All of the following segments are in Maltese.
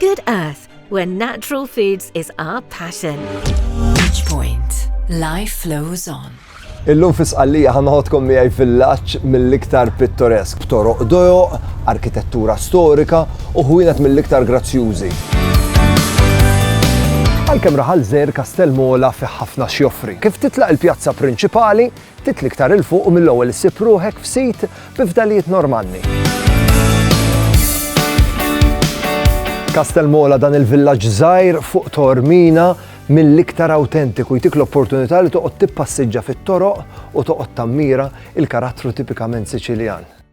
Good Earth, where natural foods is our passion. Bridgepoint, life flows on. Illum fi Sqallija ħa noħodkom miegħi villaġġ mill-iktar pittoresk b'toroq dojoq, arkitettura storika u ħwienet mill-iktar grazzjużi. Għalkemm raħal żgħir Kastell Mola fi ħafna x'joffri. Kif titlaq il-pjazza prinċipali, Ftit l-iktar 'il fuq u mill-ewwel issib ruħek f'sit bi fdalijiet Normanni. Kastelmola dan il-villaġġ żgħir fuq Tormina mill-iktar awtentiku jtik l-opportunità li toqgħod tippassiġġa fit-toroq u toqgħod tammira il-karattru tipikament Siċiljan.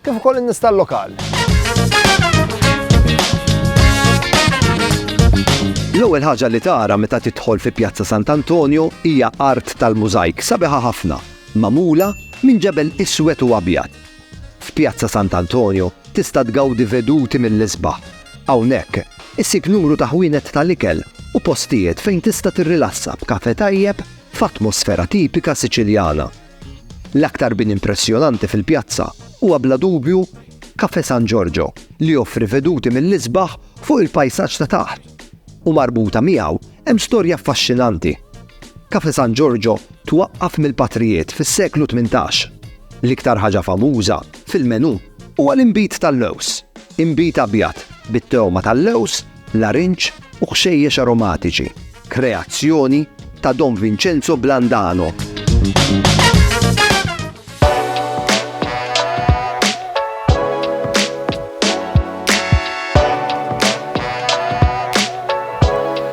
kif ukoll in-nies tal-lokal. L-ewwel ħaġa li tara meta tidħol fi Pjazza Sant'Antonio hija art tal-mużajk sabiħa ħafna, magħmula minn ġebel iswed u abjad. F'Pjazza Sant'Antonio tista' tgawdi veduti mill-isbaħ. Hawnhekk issib numru ta' ħwienet tal-ikel u postijiet fejn tista' tirrilassa b'kafe tajjeb f'atmosfera tipika Siċiljana. L-aktar bini impressjonanti fil-pjazza huwa bla dubju Cafè San Giorgio li joffri veduti mill-isbaħ fuq il-pajsaġġ ta' taħt u marbuta miegħu hemm storja affaxxinanti. Cafè San Giorgio twaqqaf mill-patrijiet fis-seklu tmintax. L-iktar ħaġa famuża fil-menù huwa l-inbid tal-lewż, inbid abjad bit-togħma tal-lewż larinġ u ħxejjex aromatiċi, kreazzjoni ta' Don Vincenzo Blandano.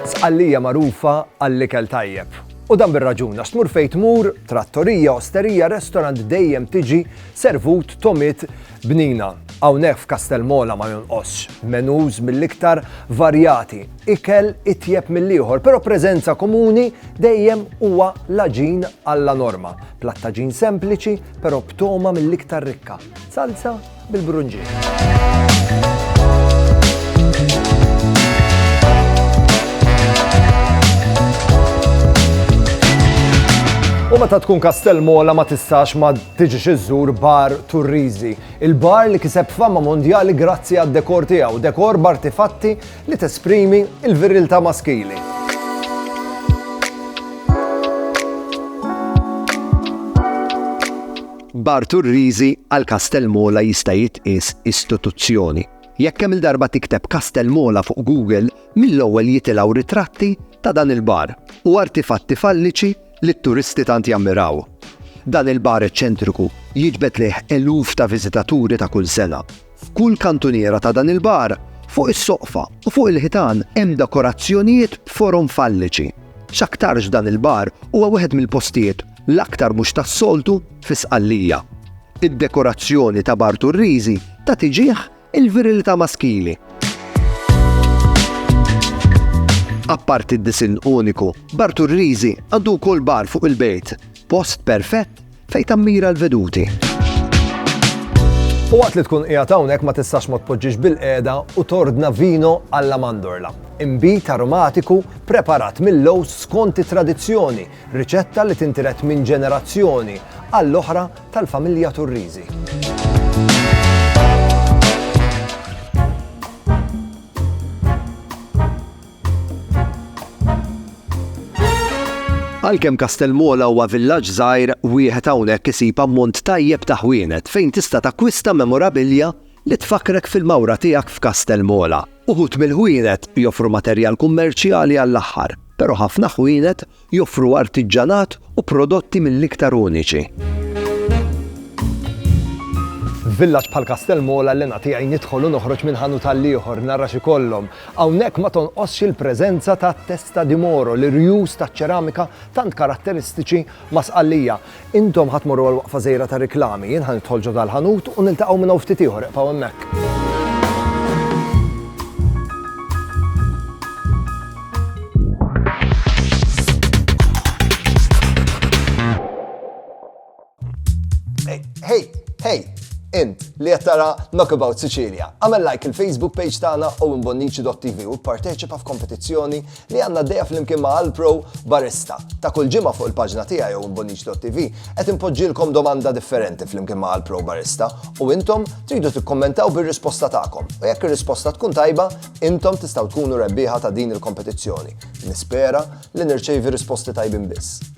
Sqallija magħrufa għall-ikel tajjeb. U dan bir-raġun għax tmur fejn tmur, trattorija, osterija, restorant dejjem tiġi servut tomit Bnina, hawnhekk f'Kastell Mola ma jonqosx menus mill-iktar varjati, ikel itjeb mill-ieħor, però preżenza komuni dejjem huwa l-għaġin alla norma, platt għaġin sempliċi però b'togħma mill-iktar rikka, salsa bil-brunġiet. U meta tkun Kastell Mola ma tistax ma Tiġix iżżur Bar Turriżi, il-bar li kiseb fama mondjali grazzi għad-dekor tiegħu, dekor b'artifatti li tesprimi l-viriltà maskili. Bar Turriżi għal Kastell Mola jista' jitqies istituzzjoni. Jekk kemm il-darba tikteb Kastell Mola fuq Google, mill-ewwel jitilgħu ritratti ta' dan il-bar u artifatti falliċi li t-turisti tant jammiraw. Dan il-bar eċċentriku jiġbed lejh eluf ta' viżitaturi ta' kull sena. F'kull kantuniera ta' dan il-bar, fuq is-soqfa u fuq il-ħitan hemm dekorazzjonijiet b'forom falliċi. X'aktarx dan il-bar huwa wieħed mill-postijiet l-aktar mhux tas-soltu fi Sqallija. Id-dekorazzjoni ta' Bar Turriżi tagħti ġieħ Il-virilità maskili. Apparti d-disinn uniku, Bar Turriżi għandu wkoll bar fuq il-bejt, post perfett fejn tammira l-veduti. U waqt li tkun qiegħed hawnhekk ma tistax ma tpoġġix bil-qiegħda u tordna vino alla mandorla. Imbit aromatiku preparat mill-lows skont it-tradizzjoni, riċetta li tintiret minn ġenerazzjoni għall-oħra tal-familja Turrisi. Għalkemm Kastelmola huwa villaġġ żgħir, wieħed hawnhekk isib ammont tajjeb ta' ħwienet fejn tista' takkwista memorabilja li tfakkrek fil-mawra tiegħek f'Kastelmola. Uħud mill-ħwienet joffru materjal kummerċjali għall-aħħar, però ħafna ħwienet Joffru artiġġanat u prodotti mill-iktar uniċi. F'villaġġ bħal Kastell Mola l-hena tiegħi nidħol u noħroġ minn ħanut għall-ieħor nara x'ikollhom. Hawnhekk ma tonqosx il-preżenza ta' Testa di Moro, l-irjus taċ-ċeramika tant karatteristiċi ma' Sqallija. Intom ħa tmorru għall-waqfa żgħira tar-riklami, jien ħa nidħol ġo dal-ħanut u niltaqgħu minn hawn ftit ieħor, iqbgħu hemmhekk. Int li qed tara Knockabout Sicilia, għamel like il-Facebook page tagħna u imbonnici.tv u pparteċipa f'kompetizzjoni li għandna għaddejja flimkien ma' Alpro Barista. Ta' kull ġimgħa fuq il-paġna tiegħi jew imbonniċ.tv qed inpoġġilkom domanda differenti flimkien ma' Alpro Barista u intom tridu tikkummentaw bir-risposta tagħkom. U jekk ir-risposta tkun tajba, intom tistgħu tkunu rebbieħa ta' din il-kompetizzjoni. Nispera li nirċevi risposti tajbin biss.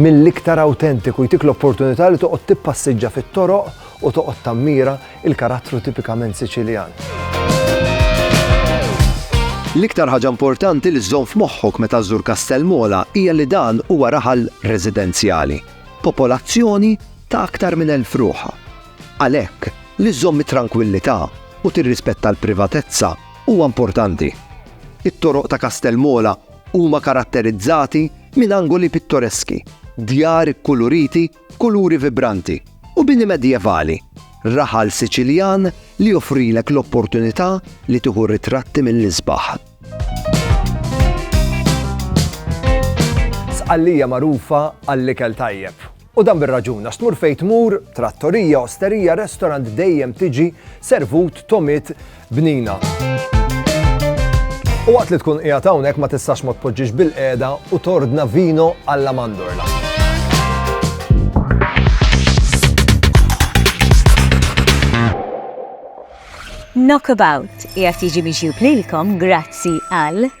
mill-iktar awtentiku jtik l-opportunità li toqgħod tippassiġġa fit-toroq u toqgħod tammira l-karattru tipikament Siċiljan. L-iktar ħaġa importanti li żżomm f'moħħok meta żżur Kastell Mola hija li dan huwa raħal residenzjali, popolazzjoni ta' aktar minn elf ruħha. Għalhekk, li żżomm it-trankwillità u tirrispetta l-privatezza huwa importanti. It-toroq ta' Kastell Mola Huma karatterizzati minn angoli pittoreski, djar ikkuluriti b'kuluri vibranti, u bini medjevali, raħal Siċiljan li joffrilek l-opportunità li tieħu ritratti mill-isbaħ. Sqallija magħrufa għall-ikel tajjeb. U dan bir-raġun, għax tmur fejn tmur, trattorija, osterija, restorant dejjem tiġi servut tomit bnina. U waqt li tkun qiegħed hawnhekk ma tistax ma tpoġġix bil-qiegħda u tordna vino alla mandorla. Knockabout qiegħed jiġi mixjub lilkom grazzi għal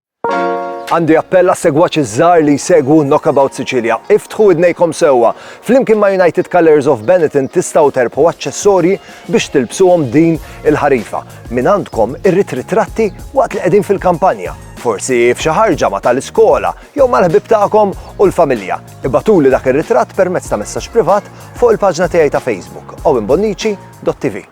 Għandi appell għas-segwaċi ż-żgħar li jsegwu Knockabout Sicilia. Iftħu widnejkom sewwa! Flimkien ma' United Colours of Benetton tistgħu terbħu aċċessorji biex tilbsuhom din il-ħarifa. Min għandkom irrid ritratti waqt li qegħdin fil-kampanja? Forsi f'xi ħarġa ma' tal-iskola jew mal-ħbieb tagħkom u l-familja? Ibagħtuli dak ir-ritratt permezz ta' messaġġ privat fuq il-paġna tiegħi ta' Facebook, owenbonnici.tv.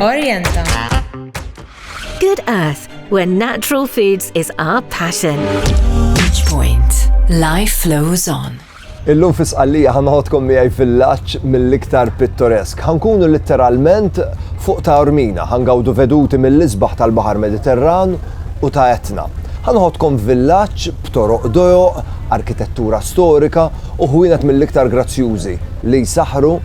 Orienta. Good Earth, where natural foods is our passion. Each point, life flows on. Illum fi sqallija ħanħodkom miegħi villaġġ mill-iktar pittoresk. Ħankunu litteralment fuq ta' Ormina, ħangawdu veduti mill-isbaħ tal-Baħar Mediterran u ta' Etna. Ħanħodkom villaġġ b'toroq dojoq, arkitettura storika u ħwienet mill-iktar grazzjużi li jsaħru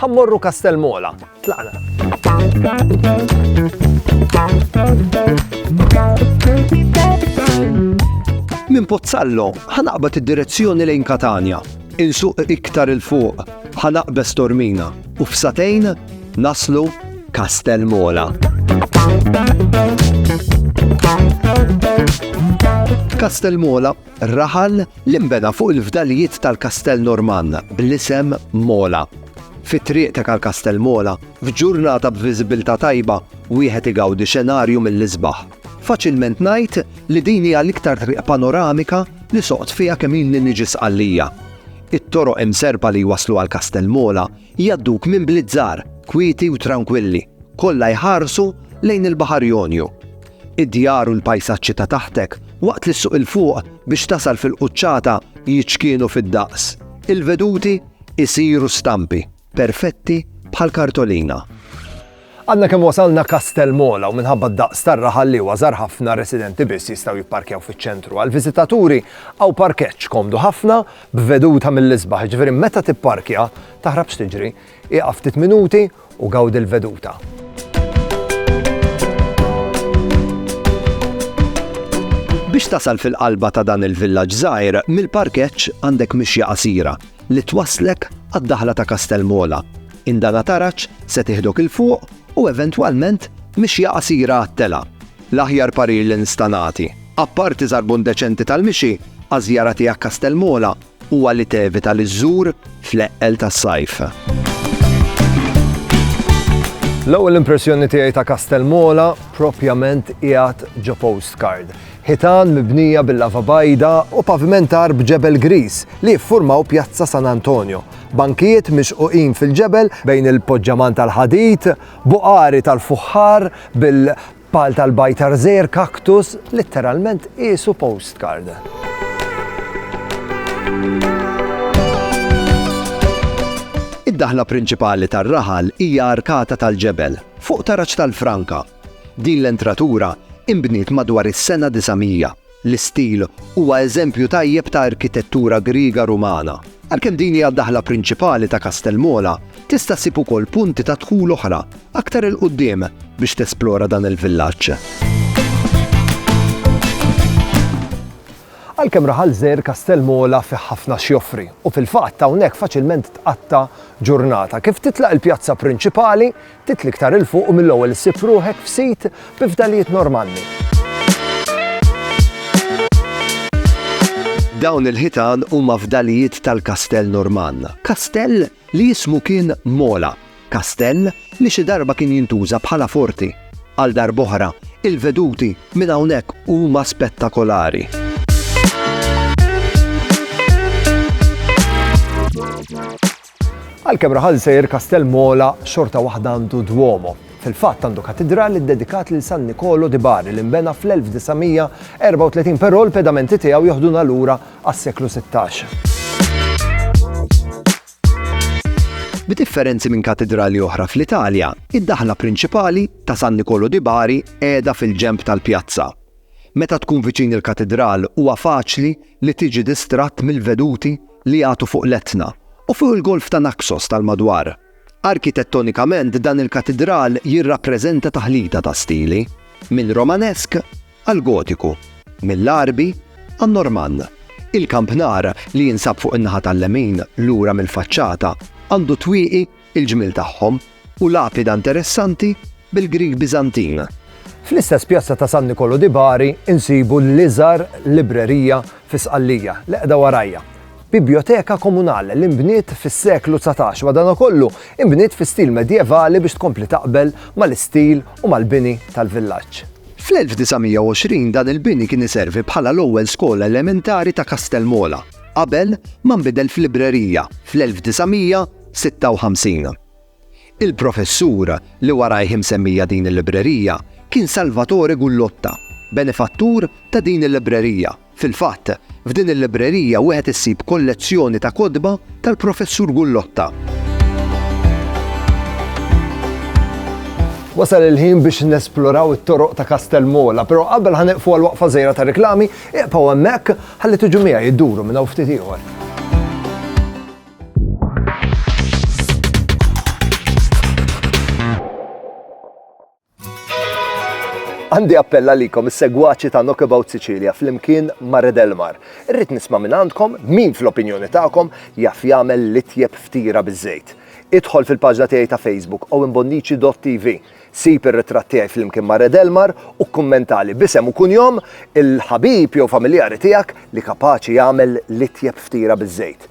Ħa mmorru Kastell Mola. Tlaqna. Minn Pozzallo ħanaqbad id-direzzjoni lejn Katania, insuq iktar il-fuq, ħanaqbes Tormina u f'satejn naslu Kastell Mola. Kastel Mola raħal li nbena fuq il-fdalijiet tal-kastell Normann bl-isem Mola. Fi triq ta' Karkastell Mola, f'ġurnata b'viżibilità tajba, wieħed igawdi xenarju mill-isbaħ. Faċilment ngħid li din hija l-iktar triq panoramika li soqt fiha kemm ilni niġi Sqallija. It-toroq imserrpa li jwasslu għal Kastell Mola jgħadduk minn bliet żgħar, kwieti u trankwilli, kollha jħarsu lejn il-Baħar Jonju. Id-djar u l-pajsaġġi ta' taħtek, waqt li ssuq 'il fuq biex tasal fil-quċċata jiċkienu fid-daqs. Il-veduti jsiru stampi, perfetti bħal kartolina. Għadna kemm wasalna Castelmola u minħabba d-daqs tar-raħal li huwa żgħar ħafna residenti biss jistgħu jipparkjaw fiċ-ċentru. Għall-viżitaturi hawn parkeġġ komdu ħafna b'veduta mill-isbaħ, jiġifieri meta tipparkja, taħrabx tiġri, ieqaf ftit minuti, u gawdi l-veduta. Biex tasal fil-qalba ta' dan il-villaġġ żgħir, mill-parkeġġ għandek mixja qasira li twasslek għad-daħla ta' Kastelmola. Indana taraġ se tieħdok 'il fuq u eventwalment mixja qasira għat-telgħa. L-aħjar parir li nista' nagħti, apparti żarbun deċenti tal-mixi, għaż-żjara tiegħek Kastelmola, huwa li tevita li żżur fl-eqqel tas-sajf. L-ewwel impressjoni tiegħi ta' Kastell Mola propjament qiegħed ġo postcard. Ħitan mibnija bil-lava bajda u pavimentar b'ġebel griż li jiffurmaw Pjazza San Antonio. Bankijiet mixquqin fil-ġebel bejn il-poġġaman tal-ħadid, buqari tal-fuħħar bil Pal tal-bajtar żgħir kaktus litteralment qisu postcard. Id-daħla prinċipali tar-raħal hija arkata tal-ġebel, fuq taraġ tal-franka. Din l-entratura inbniet madwar is-sena 900. L-istil huwa eżempju tajjeb ta' arkitettura Griega Rumana. Għalkemm din hija d-daħla prinċipali ta' Kastell Mola, tista' ssib ukoll punti ta' dħul oħra aktar 'il quddiem biex tesplora dan il-villaġġ. Għalkemm raħal żgħir Kastell Mola fih ħafna x'joffri u fil-fatt hawnhekk faċilment tqatta' ġurnata. Kif titlaq il-pjazza prinċipali, Titli iktar 'il fuq u mill-ewwel issib ruħek f'sit bi fdalijiet normali. Dawn il-ħitan huma fdalijiet tal-Kastell Normann, kastell li jismu kien Mola, kastell li xi darba kien jintuża bħala forti. Għal darb'oħra, il-veduti minn hawnhekk huma spettakolari. Għalkemm raħal sejr Kastell Mola xorta waħda għandu Duomo. Fil-fatt għandu katidral iddedikat lil San Nikolo di Bari li nbena fl-1934 però l-pedamenti tiegħu joħduna lura għas-seklu 16. Bi differenzi minn katidrali oħra fl-Italja, id-daħla prinċipali ta' San Nikolo di Bari qiegħda fil-ġemp tal-pjazza. Meta tkun viċin il-katidral huwa faċli li tiġi distratt mill-veduti li jagħtu fuq l-Etna u fuq il-Golf ta' Naxos tal-madwar. Arkitettonikament dan il-katidral jirrappreżenta taħlita ta' stili, minn Romanesk għall-Gotiku, mill-Għarbi għan-Normann. Il-kampnar, li jinsab fuq in-naħa tal-lemin lura mill-faċċata, għandu twieqi il-ġmiel tagħhom u lapida nteressanti bil-Grieg Biżantin. Fl-istess pjazza ta' San Nikolò di Bari nsibu l-iżgħar librerija fi Sqallija, li qiegħda warajja. Biblioteka Comunale li nbniet fis-seklu dsatax, madankollu nbniet fi stil medjevali biex tkompli taqbel mal-istil u mal-bini tal-villaġġ. Fl-1920 dan il-bini kien iservi bħala l-ewwel skola elementari ta' Kastel Mola, qabel ma nbidel f'librerija fl-1900. 56 Il-professur li warajh imsemmija din il-librerija kien Salvatore Gullotta, benefattur ta' din il-librerija. Fil-fatt, f'din il-librerija wieħed issib kollezzjoni ta' kotba tal-professur Gullotta. Wasal il-ħin biex nesploraw it-toroq ta' Kastel Mola, però qabel ħaneqfu għal waqfa żejra ta' reklami, iqpaw hemmhekk ħalli tiġu miegħi jduru minn hawn ftit ieħor. Għandi appell għalikom is-segwaċi ta' Knockabout Sicilia flimkien ma' Red Elmar. Irrid nisma' minn għandkom min fl-opinjoni tagħkom jaf jagħmel l-itjeb ftira biż-żejt. Idħol fil-paġna tiegħi ta' Facebook owenbonnici.tv. Sib ir-ritratt tiegħi flimkien ma' Red Elmar u kkummentali b'isem u kunjom il-ħabib jew familjari tiegħek li kapaċi jagħmel l-itjeb ftira biż-żejt.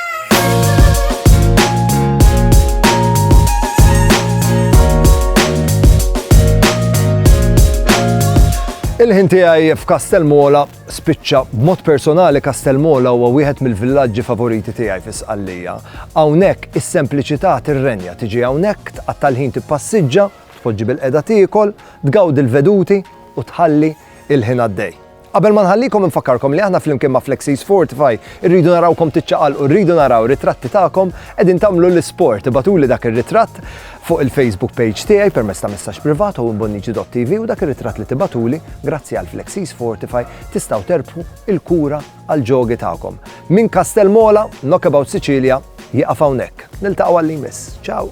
Il-ħin tiegħi f'Kastel Mola spiċċa b'mod personali Kastell Mola huwa wieħed mill-villaġġi favoriti tiegħi fi Sqallija. Hawnhekk is-sempliċità tirrenja tiġi hawnhekk tqatta' l-ħin tippassiġġa, tpoġġi bil-qeda tiekol, tgawdi l-veduti u tħalli il-ħin għaddej. Qabel ma nħallikom infakkarkom li aħna flimkien ma' Flexies Fortify irridu narawkom tiċċaqalqu, rridu naraw ritratti tagħkom qegħdin tagħmlu l-isport. Ibatuli dak ir-ritratt fuq il-Facebook page tiegħi permezz ta' messaġġ privat u mbonniġi.tv u dak ir-ritratt li tibatuli grazzi għal Flexies Fortify tistgħu terbħu il-kura għal ġogi tagħkom. Min Kastel Mola, Knockabout Sicilia, jieqaf hawnhekk. Niltaqgħu għall-li jmiss. Ciao!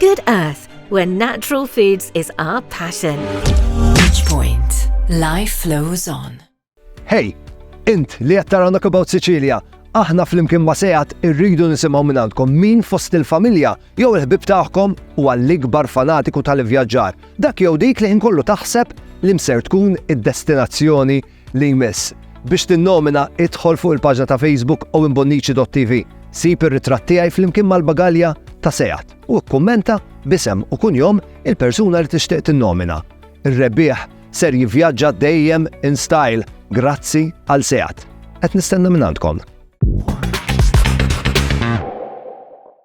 Good Earth, where natural foods is our passion. Bridgepoint, life flows on. Hey, int li qed tara Knock About Sicilia, aħna flimkien ma' sejat irridu nisimgħu minn għandkom min fost il-familja jew il-ħbib tagħhom u għall-ikbar fanatiku tal-ivvjaġġar, dak jew dik li ħin kollu taħseb li mser tkun id-destinazzjoni li jmiss. Biex tinnomina, idħol fuq il-paġna ta' Facebook owenbonnici.tv, sib ir-ritratt tiegħi flimkien mal-bagalja ta' Seat u kkummenta b'isem u kunjom il-persuna li tixtieq tinnomina. Ir-rebbieħ ser jivvjaġġa dejjem in style grazzi għal Seat. Qed nistenna minn għandkom.